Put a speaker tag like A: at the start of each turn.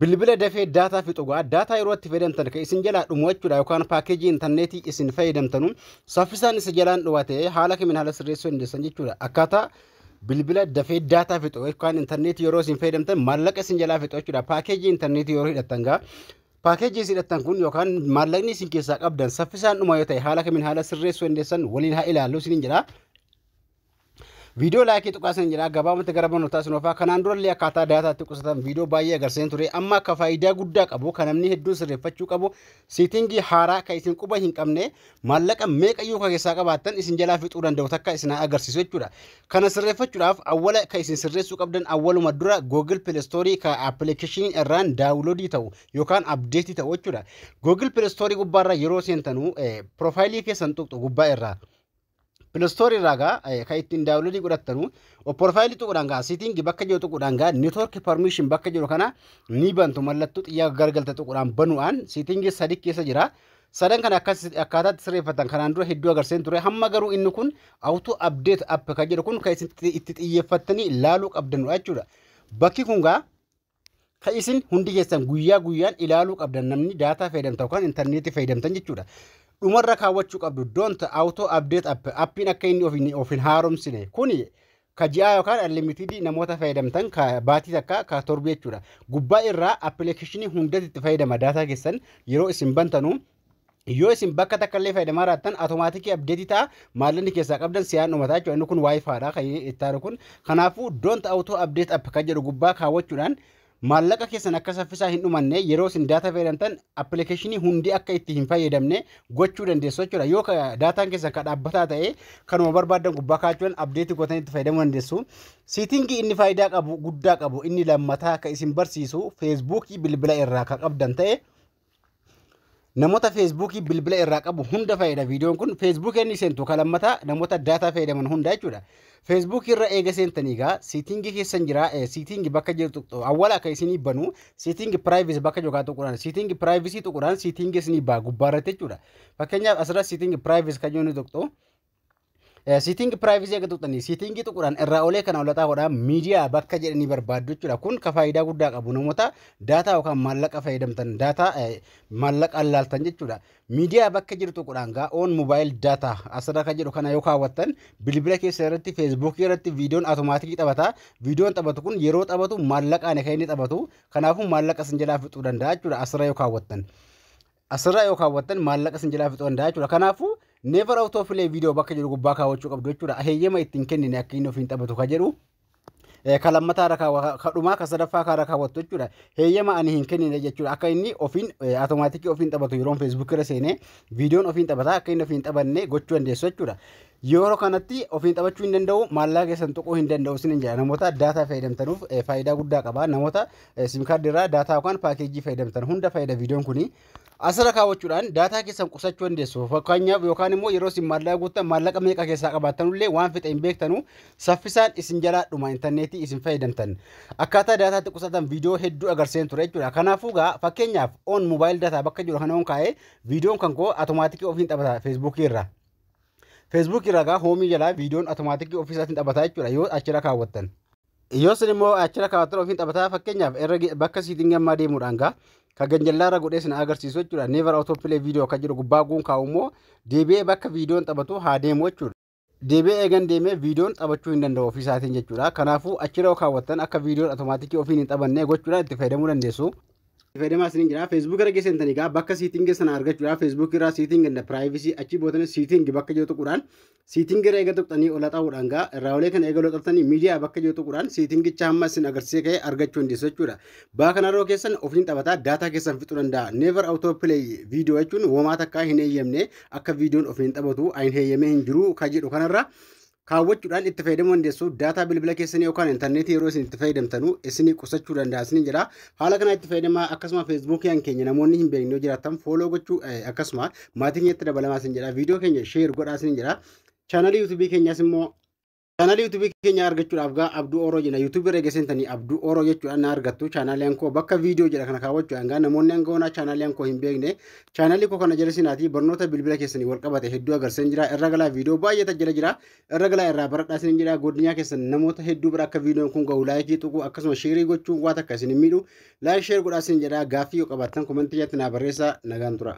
A: Bilbila dafee daataa fixu ga'a. Daataa yeroo itti fayyadamtan kan isin jalaa dhumu jechuudha yookaan paakeejii intarneetii isin fayyadamtanu saffisaan isa jalaan dhuwa ta'ee haala kamiin haala sirreessuu dandeessan jechuudha. Akkaataa bilbila dafee daataa fixu yookaan intarneetii yeroo isin fayyadamtan maallaqa isin jalaa fixu jechuudha. Paakeejii intarneetii yeroo hidhattan ga'a. Paakeejii isin hidhattan kun yookaan maallaqni isin keessaa qabdan saffisaan dhuma yoo ta'e haala kamiin haala sirreessuu dandeessan waliin haa ilaallu isiniin jedha. Viidiyoo laayikii tuqaa isin jedhaa gabaabumatti gara barnootaa isin oofaa kanaan durallee akkaataa daataatti qusatan viidiyoo baay'ee agarsiiseen ture amma akka faayidaa guddaa qabu kan namni hedduun sirreeffachuu qabu siitingii haaraa kan isin quba hin qabne maallaqa meeqa iyyuu kan keessaa qabaattan isin jalaa fixuu danda'u takka isin haa agarsiisu jechuudha. Kana sirreeffachuudhaaf awwala kan isin sirreessuu qabdan awwaluma dura Google Play Store kan appilikeeshinii irraan daawuloodii ta'u yookaan abdeetii ta'u jechuudha. Google Play Store gubbaarra yeroo seentanu piroofaayilii keessan tuqxu gubbaa irraa. Pilastoorii irraa gaa eh, kan ittiin daawunloodii godhattanu opporfaayilii tuquudhaan gaa siitiingi bakka jiru tuquudhaan gaa neetwoorkii parmiishin bakka jiru kana ni bantu mallattoo xiyyaa gargalte tuquudhaan banuudhaan siitiingi sadi keessa jira. Sadan kana akkas akkaataatti sirreeffatan kanaan dura hedduu agarseen ture hamma garuu inni kun awutuu abdeet app kan jedhu kun kan isin itti xiyyeeffattanii laaluu qabdanudha jechuudha. Bakki kun gaa Ka isin hundi keessan guyyaa guyyaan ilaaluu qabdan namni daataa fayyadamtan yookaan intarneetii fayyadamtan jechuudha. Dhumarra kaawwachuu qabdu don't auto update app appiin akka inni of hin- of hin haaromsine kuni ka ji'aa yookaan unlimited namoota fayyadamtan ka baatii takka ka torbi jechuudha. Gubbaa irraa appilikeeshinii hundatti itti fayyadama daataa keessan yeroo isin bantanu yoo isin bakka takka illee fayyadamaa raattan automaatikii abdeetii ta'a maallaqni keessaa qabdan siyaan dhumataa jechuudha inni kun waayifaadha kan ittaanu kun kanaafuu don't auto update app kan jedhu gubbaa kaawwachuudhaan maallaqa keessan akka saffisaa hin dhumanne yeroo isin daataa fayyadamtan appilikeeshinii hundi akka itti hin fayyadamne gochuu dandeessu jechuudha yoo daataan keessan kan dhaabbataa ta'e kanuma barbaadan gubbaa kaawwachuudhaan abdeetii gootanii itti fayyadamuu dandeessu siitingii inni faayidaa qabu guddaa qabu inni lammataa akka isin barsiisu feesbuukii bilbila irraa kan qabdan ta'e Namoota feesbuukii bilbila irraa qabu hunda fayyada viidiyoon kun feesbuukii inni seentu kan lammataa namoota daataa fayyadaman hundaa jechuudha. Feesbuukii irra eega seentanii egaa siitingii keessan jira siitingii bakka jirtu awwala akka isinii banu siitingii piraayivisi bakka jogaa tuqudhaan siitingii piraayivisi tuqudhaan siitingii isinii baa gubbaa irratti jechuudha. Fakkeenyaaf asirra siitingii piraayivisi kan yoo inni tuqxu Siitingi piraayivizii akka tuqxanii siitingii tuquudhaan irraa olee kana olataa godhaa miidiyaa bakka jedhanii barbaaddu jechuudha. Kun ka faayidaa guddaa qabu namoota daataa yookaan maallaqa fayyadamtan daataa maallaqaan laaltan jechuudha. Miidiyaa bakka jiru tuquudhaan gaa oon moobaayil daataa asirra kan jedhu kana yoo kaawwattan bilbila keessa irratti feesbuukii irratti viidiyoon automaatikii taphata. Viidiyoon taphatu kun yeroo taphatu maallaqaan kan inni taphatu kanaafuu maallaqa isin jalaa fixuu danda'a jechuudha asirra yoo kaawwattan. Asirraa yoo kaawwattan maallaqa isin jalaa fixuu danda'a jechuudha. Kanaafuu never out of play video bakka jedhu gubbaa kaawwachuu qabdu jechuudha. Aheeyyama ittiin kennine akka inni ofiin taphatu ka jedhu eh, ka lammataa irra kaawwa ka dhumaa ka sadaffaa kaarra kaawwattu jechuudha. Heeyyama ani hin kennine jechuudha. Akka inni ofiin eh, automaatikii ofiin taphatu yeroon feesbuukii irra seenee viidiyoon ofiin taphata akka inni ofiin taphanne gochuu dandeessu jechuudha. Yeroo kanatti ofiin taphachuu hin danda'u, maallaqa keessan tuquu hin danda'u isiniin jedha. Namoota daataa fayyadamtanuuf eh, faayidaa guddaa qaba. Namoota eh, sim kaardii irraa daataa yookaan paakeejii fayyadamtan hunda fayyada viidiyoon kuni. Asirra kaawwachuudhaan daataa keessan qusachuu dandeessu. Fakkeenyaaf yookaan immoo yeroo isin maallaqa guuttan maallaqa meeqa keessaa qabaattanullee waan fixe hin beektanu saffisaan isin jalaa dhuma intarneetii isin fayyadamtan. Akkaataa daataatti qusatan viidiyoo hedduu agarsiiseen ture jechuudha. Kanaafuu gaa fakkeenyaaf on mobaayil daataa bakka jiru kana on kaa'ee viidiyoon kan koo atomaatikii ofiin taphata feesbuukii irraa. Facebook irraa gaa hoomii jalaa viidiyoon automaatikii ofii isaatiin taphataa jechuudha yoo achirra kaawwattan. Yoo isin immoo achirra kaawwattan ofiin taphataa fakkeenyaaf irra bakka siitingii ammaa deemuudhaan gaa kan ganjallaa irra godhee isin agarsiisu jechuudha never auto play video kan jedhu gubbaa guun kaa'u immoo deebi'ee bakka viidiyoon taphatu haa deemu jechuudha. Deebi'ee eegan deemee viidiyoon taphachuu hin danda'u ofii isaatiin jechuudha. Kanaafuu achirra yoo kaawwattan akka viidiyoon automaatikii ofiin hin taphannee gochuudhaan itti fayyadamuu dandeessu. fayyadamaa isiniin jira. Facebook irra geessan tani gaa bakka siitingi sana argachuudha. Facebook irraa siitingi and privacy achi bootani siitingi bakka jiru tuquudhaan siitingi irra eega tuqxanii ol haxaa'uudhaan gaa irraa olee kana eega ol haxaftanii miidiyaa bakka jiru tuquudhaan siitingicha hamma isin agarsiisee ka'e argachuu dandeessu jechuudha. Baa kana yeroo keessan ofiin taphataa daataa keessan fixuu danda'a. Never auto play video jechuun womaa takkaa hin eeyyamne akka viidiyoon ofiin taphatu hin eeyyamee hin jiru ka jedhu kanarra kaawwachuudhaan itti fayyadamuu dandeessu. Daataa bilbila keessanii yookaan intarneetii yeroo isin itti fayyadamtanu isinii qusachuu danda'a isiniin jedha. Haala kanaa itti fayyadamaa akkasuma feesbuukiin keenya namoonni hin beekne yoo jiraatan fooloo gochuu eh, akkasuma maatii keenyatti dabalamaa isin jedha. Viidiyoo keenya sheer godhaa isin jedha. Chaanalii yuutuubii keenyaas immoo Chaanalii yuutuubii keenya argachuudhaaf gaa Abduu Oroo jenna. Yuutuubii irra geessanii Abduu Oroo jechuudhaan na argattu. Chaanaliin koo bakka viidiyoo jedha kana kaawwachuudhaan gaa namoonni hanga onaa chaanaliin koo hin beekne Chaanalii koo kana jala seenaatii barnoota bilbila keessanii wal qabate hedduu agarsiisan jira. Irra galaa viidiyoo baay'ee tajjala jira. Irra galaa irraa baradhaa isin jedha. Godinyaa keessan namoota hedduu bira akka viidiyoon kun gahu laayikii tuquu akkasuma sheerii gochuun waa takka isin hin miidhu. Laayik sheer godhaa isin jedha. Gaaffii yoo qabaattan komentii jalatti naa barreessaa nagaan tura.